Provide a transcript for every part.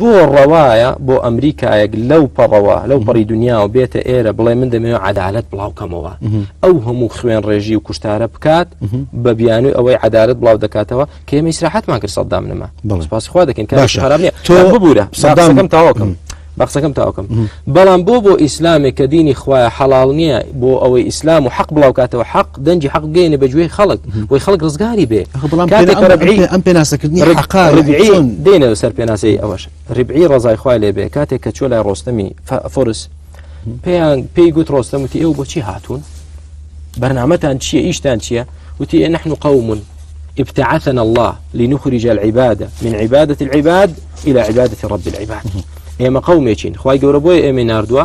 بۆ ڕەوایە بۆ ئەمریکایەک لەو پەڕەوە لەو پەڕی دنیا و بێتە ئێرە بڵێ من دەمەوێت عدالت بڵاوکەمەوە ئەو هەموو خوێن ڕێژی و کوشتارە بکات بە بیانوی ئەوەی عدالت بڵاو دەکاتەوە کە ئێمە ئیسراحەتمان کرد سەدام نەما بەڵسپاسخوا دەکەین کە خراپ نیە تۆ ببوورە سەدامەکەم تاواکەم. بە قسەکەم تاوکەم بەڵام بۆ بۆ ئیسلامێک کە دینی خوایە حەڵال نییە بۆ ئەوەی ئیسلام و حەق بڵاوکاتەوە حەق دەنجی حەق بگەینە بە گوێی خەڵک بۆی خەڵک ڕزگاری بێ ئەم پێناسەکردنی دێنەوە سەر پێناسەی ئەوەش ڕبعی ڕزای خوای لێ بێ کاتێک کە چۆ لای ڕۆستەمی فۆرس پێیان پێی گوت ڕۆستەم وتی ئەو بۆچی هاتوون بەرنمەتان چییە ئیشتان چییە وتی ئێ نحن قومون ابتعثنا الله لنخرج العبادة من عبادة العباد إلى عبادة رب العباد ئێمە قومێکین خی گەورە بۆی ئێمە نردووە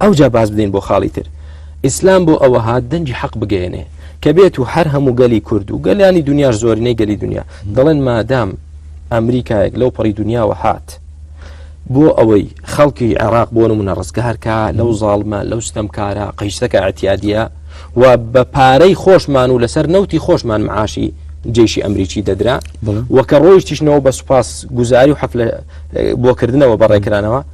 ئەوجا باز بدەین بۆ خاڵی تر. ئیسلام بۆ ئەوە هات دەنگی حەق بگەیەنێ کە بێت و هەر هەموو گەلی کورد و گەلانی دنیاش زۆرینەی گەلی دنیا دەڵێن مادام ئەمریکایەک لەو پەڕی دنیاوە هات بۆ ئەوەی خەڵکی عێراق بۆ نمونە ڕزگارکە لەو زاڵمە لەو ستەمکارە قەیسەکە ئەتیادە و بە پارەی خۆشمان و لەسەر نەوتی خۆشمان معاشی جێشی ئەمریکی دەدرا وەکە ڕۆیشتیشنەوە بە سوپاس گوزاری و حەفلە بۆکردنەوە بەڕێکرانەوە